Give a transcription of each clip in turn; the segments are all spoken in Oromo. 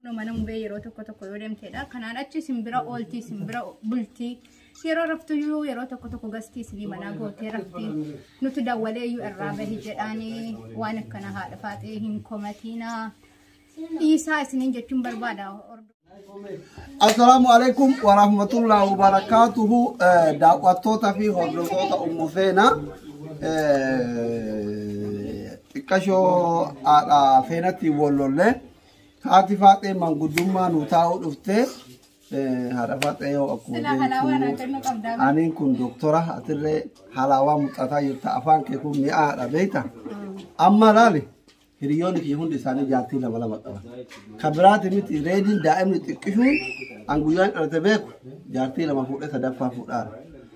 Kunoo mana mubee yeroo tokko tokko yoo deemteedha. Kanaan achi isin bira oolti, isin bira bulti. Yeroo raftu iyyuu yeroo tokko tokko gasti isinii manaa gootee rafti. Nuti dawwalee iyyuu irraa bahi jedhaanii waan akkana haadha faaxee hin komatiinaa. Dhiisaa isiniin jechuun barbaada. Assalaamu alaikum wa rahmatullahi wa barakaatuhu Eh, daawwattoota fi hordoftoota ummu feena Eh, xiqqashoo haadha feenatti wallollee Haati faaxee manguddummaa nuu taa'uu dhuftee haadha faaxee yoo akkuma Silaa halaawaa naa beektu kennuu qabdaa. aniin kun doktora atillee halaawaa muxataa jirta afaan kee kun mi'aadha beekta amma laali hiriyoonni kee hundi isaanii jaartii lama lama qaban kan biraati miti reediin daa'imni xiqqishuun an guyyaan dhalate beeku jaartii lama fuudhee sadaffaa fuudhaara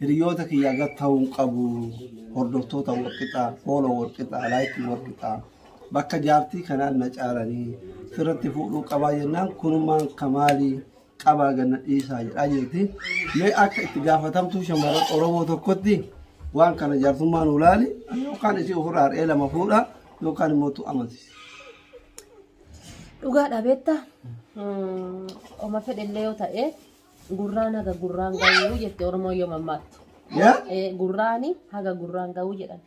Hiriyoota kiyyaa gad ta'uu hin qabu. Hordoftoota wal qixaa, fooloo wal qixaa, laayikii wal qixaa. Bakka jaartii kanaan na caalanii sirratti fuudhuu qabaa jennaan kunumaan kamaalii qabaa ganna dhiisaa jedhaa jirti. Mee akka itti gaafatamtuu shamarran Oromoo tokkotti waan kana jaartummaa nu laali yookaan isii ofirraa har'ee lama fuudha yookaan immoo tu amansiisa. Dhugaa dhabeetta. Oma fedhellee yoo ta'e Gurraan haga gurraan ga'uu jette Oromoon yoo mammaattu. Yaa? Eh, Gurraani haga gurraan ga'uu jedhan.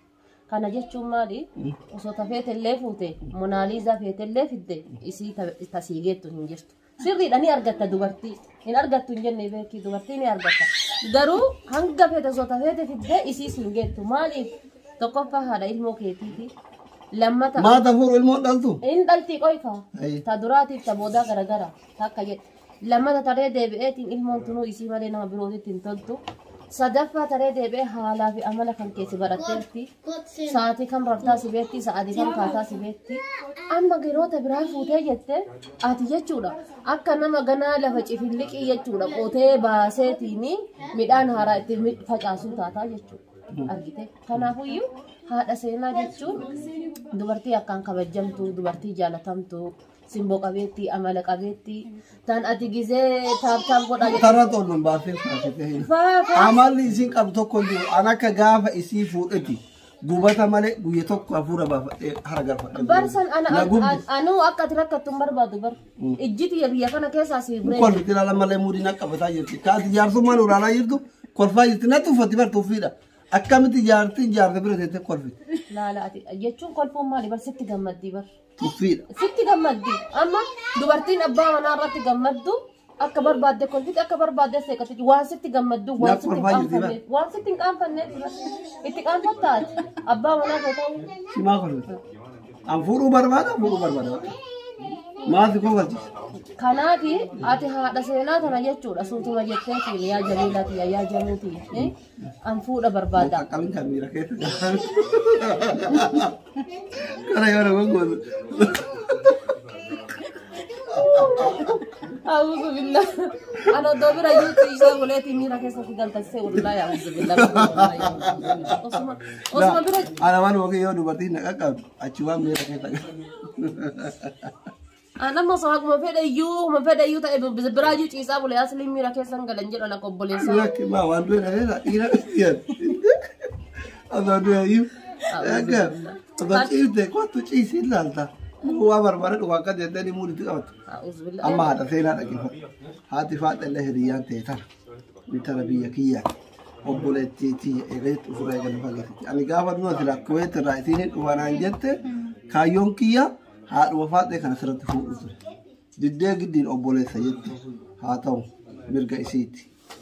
Kana jechuun maali? Osoo tafeete illee fuute, Monaaliizaa feete illee fidde isii ta- tasii geettu hin jirtu. Sirriidha ni argatta dubartii. Hin argattu hin jenne beekii dubartii ni argatta. Garuu hanga feete osoo tafeete fidde isii siin geettu. Maaliif? Tokkoffaa haadha ilmoo keetiiti. Lammata Maata fuuru ilmoon dhaltu. hin dhaltii qoyka. Ayi. Ta duraatiif ta boodaa garagara takka jedhe. Lammata taree deebi'eetiin ilmoon tunuu isii malee nama birootitti hin toltu. Sadaffaa taree deebi'ee haalaa fi amala kan keessi baratteetti. Sa'aatii kam raftaa si beekti, sa'aatii kam kaataa si beekti. Amma giroota biraa fuutee jette ati jechuudha. Akka nama ganaa lafa cifilliqii jechuudha qotee baaseetiin midhaan haaraa itti mi- facaasuu taataa jechuudha. Argite. Kanaafuyyuu haadha seenaa jechuun dubartii akkaan kabajamtu, dubartii jaalatamtu, Simboo qabeetti, amala qabeetti. Tan ati gizee taap taap godhaa jettu. Tarra tolluun baafee faatee hin. Faa faa. Amalli isiin qabdu tokko hin jiru. An akka gaafa isii fuudheti gubata malee guyya tokko hafuura baafadhee hara galfadhe. Barsan ana Na gubdi. an- anuu akka ati rakkattu hin barbaadu bar. Ijji tiyya biyya kana keessaa si Kun kolfi jira lammalee muudii na qabataa jirti. Kaati jaarsummaan ulaalaa jirtu kolfaa jirti. Na tuffatti bar tuffiidha. Akkamitti jaartiin jaarsa bira teessee kolfi. laala ati jechuun kolfuun maali bar sitti gammaddii bar. Tuffiidha. Sitti gammaddi. Amma dubartiin abbaa manaa irratti gammaddu akka barbaadde kolfiti akka barbaadde seeqatti waan sitti gammaddu waan Naaf sitti hin kolfaa jirti, qaanfanneef waan sitti hin qaanfanneef itti qaanfatta ati abbaa manaa kee ta'uu Simaa kolfiti. An fuudhuu barbaada fuudhuu barbaada. Maati kolfachisa. kanaafi ati haadha seenaa tana jechuudha suutuma jettee fiili yaa jamiilati yaa jamiiti An fuudha barbaada. Qaqqabin kan miira keessa jiraatan. Kana yoo nama gootu. Auzu billah. An oddoo bira yuutti isaa goleetii miira keessatti galtaksee wallahi auzu billah. Osuma osuma bira Ana waan yoo dubartiin na qaqqabdu achi waan miira keessa jiraatan. An amma osoo haguma fedhe iyyuu huma fedhe iyyuu ta'e bi- biraa iyyuu ciisaa bule asliin miira keessa hin galan jedhan akka obboleessaa. Lakki maa waan du'e dhabeera dhiira dhiyan. Osoo du'e iyyuu. Akka osoo ciifte kottu ciisii ilaalta. Waa barbare dhugaa akka deeddanii muuditti qabatu. A'uuzubillah. Amma haadha seenaa dhaggeeffatu. Haati faadha illee hiriyyaan ta'e tana. Intala biyya kiyyaa. Obboleettii tiyya eegaatti ofirraa eegalu fageessiti. Ani gaafa du'a silaa kuweetti irraa isiin hin dhufanaan jette kaayyoon kiyyaa Haadhuma Faaxee kan asirratti fuudhu ture. Diddee giddiin obboleessa jette haa ta'u mirga isiiti.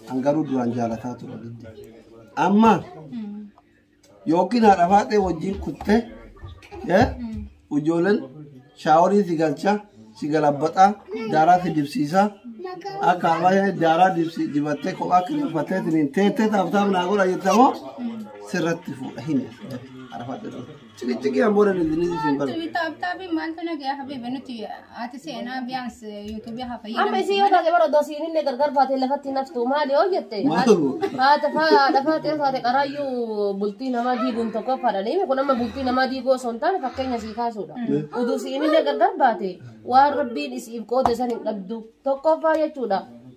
An garuu duraan jaalataa ture diddee. Amma yookiin haadha Faaxee wajjin kuttee eh, ijoolleen shaaworii si galcha si galabbaxaa daaraa si dibsiisaa akka ammayyaa daaraa dibsi dibattee kophaa kireeffattee siniin teettee taaftaaf naa godha jettamoo sirratti fuudha hin haadha Faaxee. Ciqiciqii an booda nuti nuti isin baru. Tumi taap taapiin maaltu nagaya habibi nuti ati seenaa biyaans yuutuubii haa fayyadamu. Amma isii yoo taate bara odoo siin illee gargar baatee lafatti naftu maali yoo jette Maalifu? haata faadha faatee taate qaraayyuu bultii namaa diiguun tokko fadhanii kun amma bultii namaa diiguu osoo hin taane fakkeenya sii kaasuudha. Uduu siin illee gargar baate waan rabbiin isiif qoode san hin dhabdu tokkoffaa jechuudha.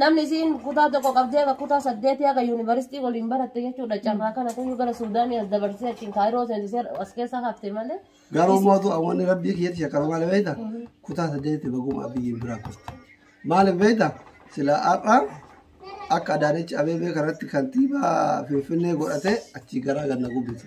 Namni isiin kutaa tokko qabdee akka kutaa saddeetii akka yuunivarsiitii waliin baratte jechuudha. Carraa kana kuyyuu gara Suudaanii as dabarsee achiin kaayiroo seensisee as keessa hafte malee. Garuu mootu awwanni rabbii kiyyatti shakkama maal beekta? Kutaa saddeetti baguma biyyiin biraa kufte. Maaliif beekta? Sila har'a akka Adaanech Abeebee kanatti kantiibaa Finfinnee godhatee achii garaa ganna gubbise.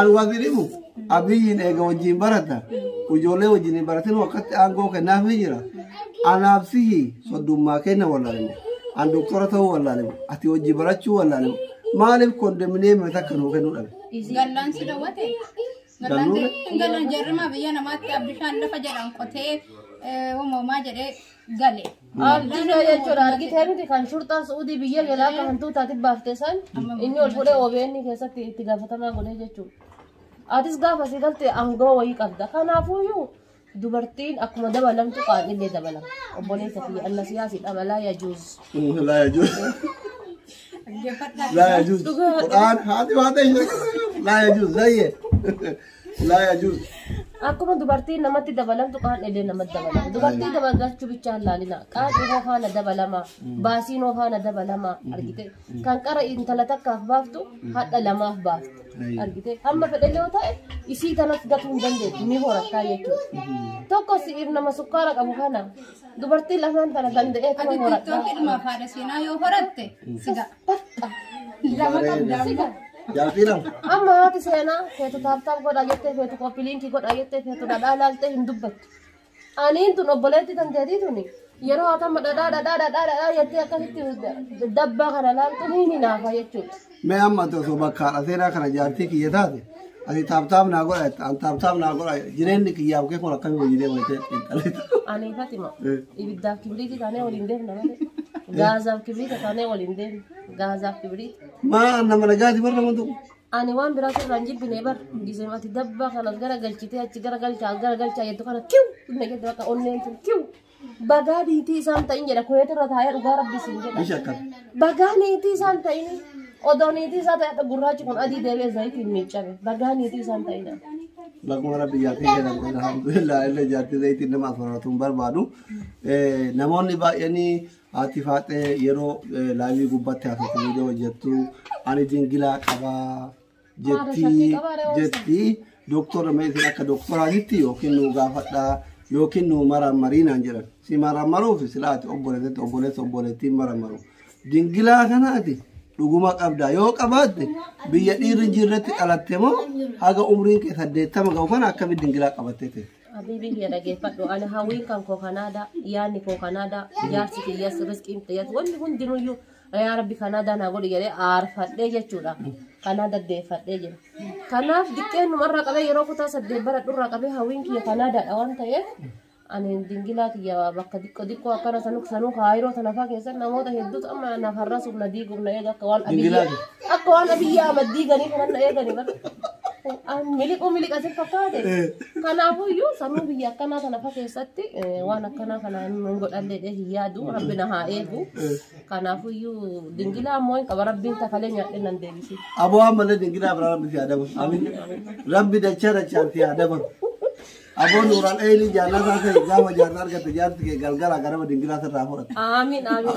Alwadirimu abiyyiin eega wajjin barata ijoollee wajjin hin baratin wakkatti aangoo kennaaf ni jira. Anaaf sihi soddummaa kenna wallaalemu. An doktora ta'uu wallaalemu. Ati wajjin barachuu wallaalemu. Maaliif kondominiyeemii takka nuu kennuu dhabe? Gallaan si dawwate. Gallaan Galuu- si- Gallaan jarrimaa biyya namaatti abdishaan lafa jedhan qotee eh, uumamaa jedhee gale. Abdiin yoo jechuudha argitee miti kan shurxaan su'uudii biyya galaa akka hantuutaatti baafte san inni ol fuudhee OBN keessatti itti gaafatamaa godhee jechuudha. Atis gaafa si galte aangoo wayii qabda. Kanaafuyyuu dubartiin akkuma dabalamtu qaadhillee dabalama. Obboleessa fi anna siyaasi dhabalaa yajuus. Laa yajuus. Laa yajuus. Quraan haati waan ta'e laa yajuus zayyee. لا يجوز Akkuma dubartiin namatti dabalamtu qaan'ilee namatti dabalama. Dubartii dabalachuu bichaa hin laalina. Qaan'ii hoo faana dabalama. Baasiin hoo faana dabalama. Argite. Kan qara intala takkaaf baaftu hadha lamaaf baaftu. Argite. Amma fedhallee yoo ta'e isii kanas gatuu hin dandeettu ni horattaa jechuudha. Tokko si'iif nama sukkaara qabu kana dubartii lamaan tana danda'ee Ati kuma horattaa. tiktookidhuma faada seenaa yoo horatte siga. Takka. Lama qabda siga. Jaafii lama. Amma haati seenaa feetu taaptaap godhaa jettee feetu qophii liinkii godhaa jettee feetu dhadhaa ilaaltee hin dubbattu. Aniin tun obboleetti kan teetii tuni yeroo haatama dhadhaa dhadhaa dhadhaa dhadhaa jettee akkasitti dabbaa kana ilaaltu ni hinaafa jechuudha. Mee amma osoo bakkaadha seenaa kana jaartii kiyya taate. Ati taaptaap naa godha jetta. An taaptaap naa godha jetta. Jireenyi kiyyaaf kee kun akkamii wajjin deema jettee xiinxalita. Ani Fatima Eh. ibiddaaf kibriitii taanee waliin deemna malee gaazaaf kibriita taanee waliin deemna gaazaaf kibriita. Maa nama nagaati barra nama tokko. Ani waan biraa sirraa hin jibbine bar gisee ati dabbaa kanas gara galchitee achi gara galchaa gara galchaa jettu kana kiw na jettu akka onneen tun kiw Bagaa diitii isaan ta'in jedha kuweet irra taa'ee dhugaa rabbi isin Ishi jedha. akkam. Bagaa niitii isaan ta'in odoo niitii isaa ta'e gurraachi kun adii deebi'ee zayitiin miiccame. Bagaa niitii isaan ta'in. Bakkuma rabbi jaartii jedhan alhamdulillah illee jaartii zayitiin nama afaratu hin barbaadu. Eh, Namoonni baay'eenii haati faaxee yeroo eh, laayivii gubbaatti haasoftu viidiyoo hojjettu ani jingilaa qabaa. jettii jettii doktora meetiin akka doktoraatitti yookiin nuu gaafadhaa yookiin nuu marammarii naan jedhan si marammaruuf silaa ati obboleetti obboleessa obboleettiin marammaru dingilaa kana ati dhuguma qabdaa yoo qabaatte biyya dhiirri hin jirretti dhalatte moo haga umriin kee saddeettama ga'u kana akkamitti dingilaa qabattee ta'e. Habiibii kiyya dhageeffadhu ani hawwiin kan koo kanaadaa yaadni koo kanaadaa jaarsi kiyyas riskiin kiyyas wanni hundinuyyuu yaa rabbi kanaa daanaa godhi jedhee aarfadhee jechuudha kanaa daddeeffadhee jira kanaaf diqqeen numarraa qabee yeroo kutaa saddeet bara dhurraa qabee hawwiin kiyya kanaa daadha waan ta'eef ani dingilaa kiyya bakka diqqoo diqqoo akkana sanuu sanuu kaayiroo sanafaa keessatti namoota hedduutu amma naaf har'asuuf na diiguuf na eega akka waan abiyyaa akka waan abiyyaa amma diiganii kanan na eeganii bara miliquu miliqatin fakkaate kanaafuyyuu sanuu biyya akkanaa tanafa keessatti waan akkanaa kana hin godhallee hin yaadu rabbi na haa eegu Kanaafuyyuu dingilaa ammoo hin qaba rabbiin takalee nyaadhee nan deebisi. Aboo ammallee dingilaa biraa rabbi si haa dabalu. Amin. Rabbi dachaa dachaan si haa dabalu. Aboo nuuraan eeyni jaarraa isaa ta'e gaafa jaarraa argatte jaarsi kee galgala garaba dingilaa sirraa fudhata. Aamin aamin.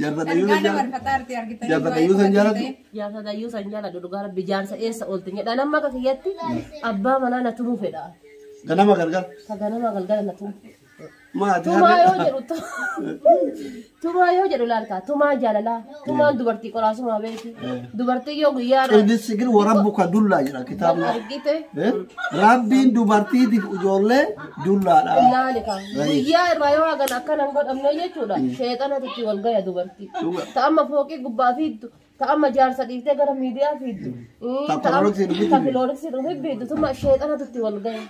Jarradayyuu Ergaa sanjaa. dabarfataa artee argitanii Jarradayyuu san jaalatu. Jaarsa dayyuu san jaaladhu dhugaa rabbi jaarsa eessa oolte jedha nama akka kiyyatti abbaa manaa na tumuu fedha. Ganama gargar. Ka ganama galgala na tumu. Maati Tumaa yoo jedhu tu- tumaa yoo jedhu laalkaa tumaa jaalalaa. Tumaan dubartii qolaasumaa beekti. Dubartii yoo guyyaa irraa Inni sigir warabbuka dullaa jira kitaabni. argite Eh? Rabbiin dubartiitiif ijoollee dullaadha. ilaali kaa. Guyyaa irraa yoo hagan akkana hin godhamne jechuudha. Sheexanatu itti wal gaya dubartii. Dhuga. Ta amma fooqii gubbaa fiiddu. Ta amma jaarsa dhiiftee gara miidiyaa fiiddu. Ii, Ta ta amma- kilooriksii dhufi- ta kilooriksii dhufi fiiddu. Tuma sheexanatu itti wal gaya.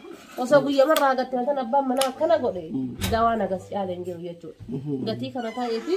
Osoo guyyaa irraa hagatte wantan abbaan manaa akkana godhe. Dawaan agas caalee hin jiru jechuudha. Gatii kana ta'eefi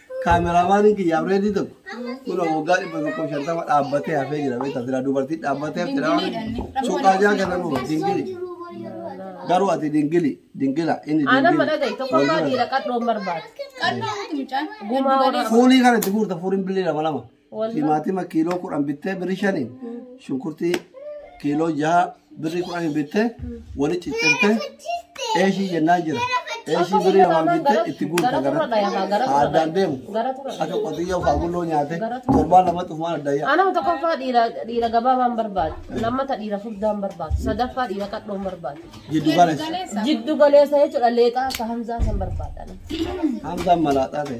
Kaameraamaaniin kiyya abreedii tokko kunoo waggaa dhibba tokkoof shantama dhaabbatee hafee jira beektaa silaa dubartii dhaabbatee hafte dhaa suuqaa jaa kana nuu dingili garuu ati dingili dingila inni Aanan dingili mana gahe tokko irraa dhiira qadhoon barbaada. Gumaa warra fuulii kana itti guurta fuuriin billee lama lama. Wallah. Timaatima kiiloo kudhan bittee birrii shaniin shunkurtii kiiloo jaha birrii kudhaniin bittee wali ciccirtee eeshii jennaan jira. Eeshii birrii lamaan bittee itti guuta gara addaan deemu akka qotiyyoo faagulloo nyaate torbaan lama xufumaan adda yaa. Anama tokkoffaa dhiira dhiira gabaabaan barbaadu. Lammata dhiira furdaan barbaadu. Sadaffaa dhiira qadhoon barbaadu. Jiddu galeessa. Jiddu galeessa jechuudha leexaa akka hamzaa san barbaadana. Hamzaan malaaxaa ta'e.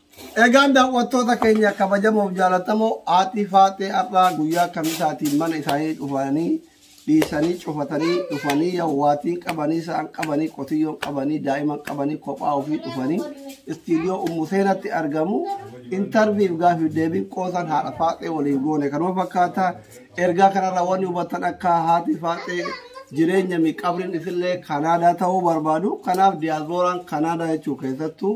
Egaan daawwattoota keenya kabajamoof jaalatamoo haatii faaxee har'aa guyyaa kamisaatiin mana isaanii dhufanii dhiisanii cufatanii dhufanii yawwaatiin qabanii isaan qabanii qotiyyoon qabanii daa'iman qabanii kophaa ofii dhufanii istiidiyoo ummu seenatti argamu intarviif gaafiif deebiin qoosan haadha faaxee waliin goone kanuma fakkaata ergaa kanarraa wanni hubatan akka haati faaxee jireenya miqabriin isillee kanaadaa ta'uu barbaadu kanaaf diyaasporaan kanaadaa jechuu keessattuu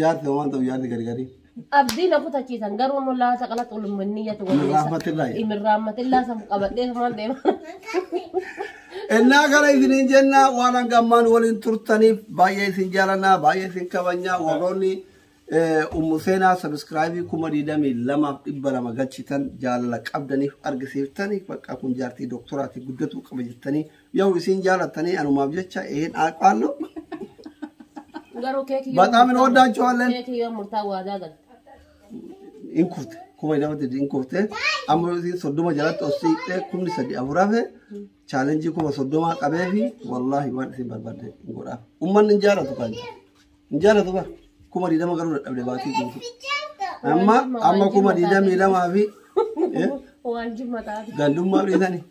Jaarti waan ta'u jaarti gadi gadi. Abdii na kutachiisan garuu immoo laata qalatti olummaan niyyatu Hin raammatillaa jedha. Hin raammatillaa san qabadhee maal deema. Innaa kana isiniin jenna waan hanga ammaan waliin turtaniif baay'ee isin jaalannaa baay'ee isin kabajnaa warroonni eh, ummu seenaa sabiskiraayibii kuma digdamii lamaaf dhibba lama galchitan jaalala qabdaniif argisiiftanii bakka kun jaartii dooktoraati guddatuu qaba jettanii Yaw isiin jaalattanii anumaaf jecha een aaqqaallu. Garuu keekii Bataam hin ooddaachuu halleen. Keekii yoo murtaa waadaa galte. Hin kufte. Kuma nama didi hin kufte. Amma yoo isiin soddoma jalatti os siiqxee kumni sadii afur hafe chaalenjii kuma soddomaa qabee fi wallaahi waan isin barbaadde hin godhaaf. Ummanni hin jaalatu kan. Hin jaalatu bar. Kuma digdama garuu dadhabde baatii guutuu. Amma amma kuma digdamii lamaa fi eh, Waan jimma taate. gandummaa dhiisanii.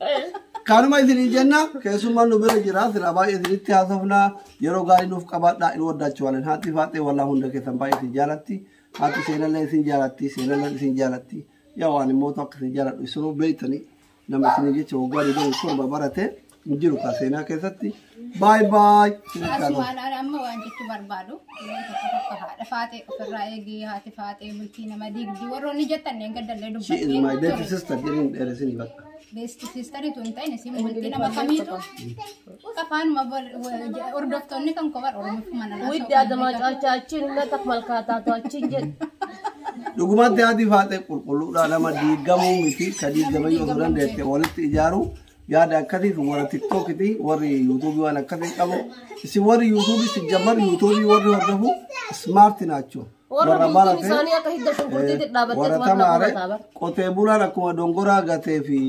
Kaanuma isinii jenna keessummaan nu bira jira sila baay'ee isinitti haasofna yeroo gaarii nuuf qabaadha in waddaachu walan haati faaxee walaa hunda keessan baay'ee isin jaalatti haati seenallee isin jaalatti seenallee isin jaalatti yaa waan immoo akka isin jaaladhu isinuu beektanii Nama isinii jecha waggaa 27 barate hin jiru kaa seenaa keessatti. Baay baay. Asumaan ani amma waan jechuu barbaadu waan tokko tokko haadha faatee ofirraa eegee haati faatee bultii nama diigdi warroonni jettan neen gaddallee She is my dubbattee baby sister jedhin dheeresin bakka. beesti siistariitu hin ta'in isin bultii nama kamiitu Afaanuma hordoftoonni kan kophaa Oromiffumaan irraa Widdi adamaa caalchaa achiin hin naqaf malkaataatu achiin jedhe. Dhugumatti haati faaxee qulqulluudha nama diigamuu miti ka diigamee yoo turan deette walitti ijaaru yaada akkasii fi warra tiktookiti warri yuutuubii waan akkasii qabu isin warri yuutuubii si jammar yuutuubii warri hordofu ismaarti naachoo Warra warra bultiin barate isaanii akka hidda shunkurtiitti dhaabbattee warra tumaaf na tamaare qubataa bar. qotee bulaan akkuma dongoraa gatee fi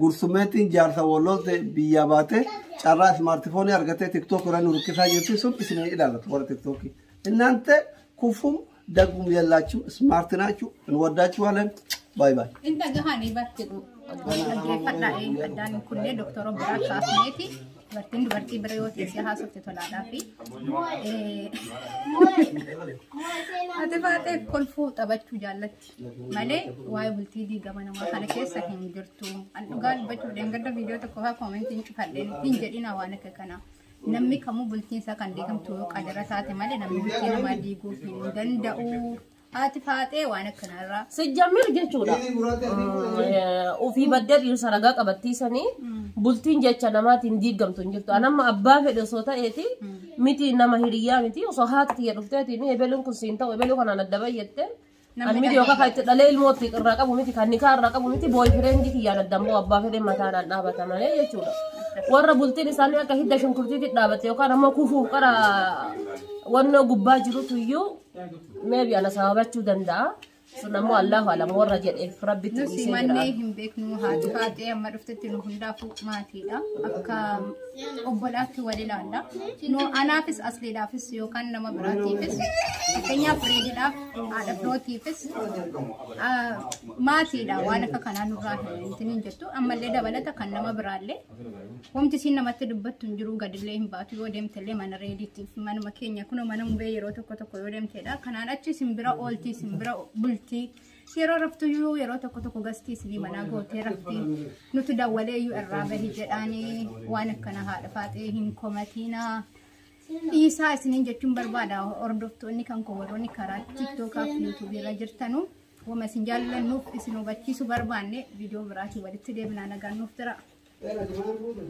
Gursummeettiin jaarsa wallooltee biyyaa baatee carraa ismaartifoonii argatee tiktook irra nu rukkisaa jirti sun isin hin ilaallatu warra tiktookii. Innaante kufum daggum yallaachum ismaarti naachuu hin waddaachuu haalan baay baay. Hin dhagahanii bartidhu. Dhaggeeffadhaa eenyu addaan hin kunnee doktora biraa kaasneeti. Dubartiin dubartii bira yoo teessee haasofte tolaadhaa fi ati baatee kolfuu taphachuu jaallatti. malee waa'ee bultii diigama namaa kana keessa hin jirtu. An dhugaa dubbachuu dheengadda viidiyoo tokko faa koomentiin cufadheen hin jedhina waan akka kana. Namni kamuu bultiin isaa kan diigamtu yoo qadara taate malee namni bultii namaa diiguu hin danda'u. Haati faaxee waan akkanarraa. Sijjammir jechuudha. Eh, Ofii baddee dhiirsa ragaa qabattiisanii bultiin jecha namaatiin diigamtu hin jirtu. Anamma abbaa fedhe osoo ta'eeti miti nama hiriyyaa miti osoo haati tiyya dhufteetiin ebeluun kun siin ta'u ebeluu kanaan adda bayyattee Ani miti yookaan kan itti dhalee ilmoo itti irraa qabu miti kan nikaa irraa qabu miti booyi fireendi kiyyaan adda immoo abbaa fedhee mataadhaan dhaabata malee jechuudha. Warra bultiin isaanii akka hidda shunkurtiitti dhaabate yookaan ammoo kufuuf qara wannoo gubbaa jirutu iyyuu meebi ana sababachuu danda'a. Sun ammoo Allahu alam warra jedheef rabbitti Nusi dhiisee mannee jira. hin beeknu haati faatee amma dhuftetti nu hundaafuu maatiidha. Akka obbolaatti wal ilaalla. Nu anaafis asliidhaafis yookaan nama biraatiifis fakkeenyaaf reediidhaaf haadha birootiifis ah, maatiidha waan akka kanaa nurraa hin hin jirtu ammallee dabalata kan nama biraallee wanti isiin namatti dubbattu hin jiru gadillee hin baatu yoo deemtellee mana reediitiif manuma keenya kunoo mana mubee yeroo tokko tokko yoo deemteedha kanaan achi isin bira ooltii isin bira bultii. Yeroo raftuyyuu yeroo tokko tokko gastii isinii manaa gootee rafti nuti dawwalee iyyuu irraa bahi jedhaanii waan akkana haadha faaxee hin komatiina. Dhiisaa isiniin jechuun barbaada hordoftoonni kan koo warroonni karaa tiktookaa fi yuutuubii irra jirtanu wama isin jaallannuuf isin hubachiisu barbaanne viidiyoo biraatiin walitti deebinaa nagaan nuuf jira. Era de mal gusto.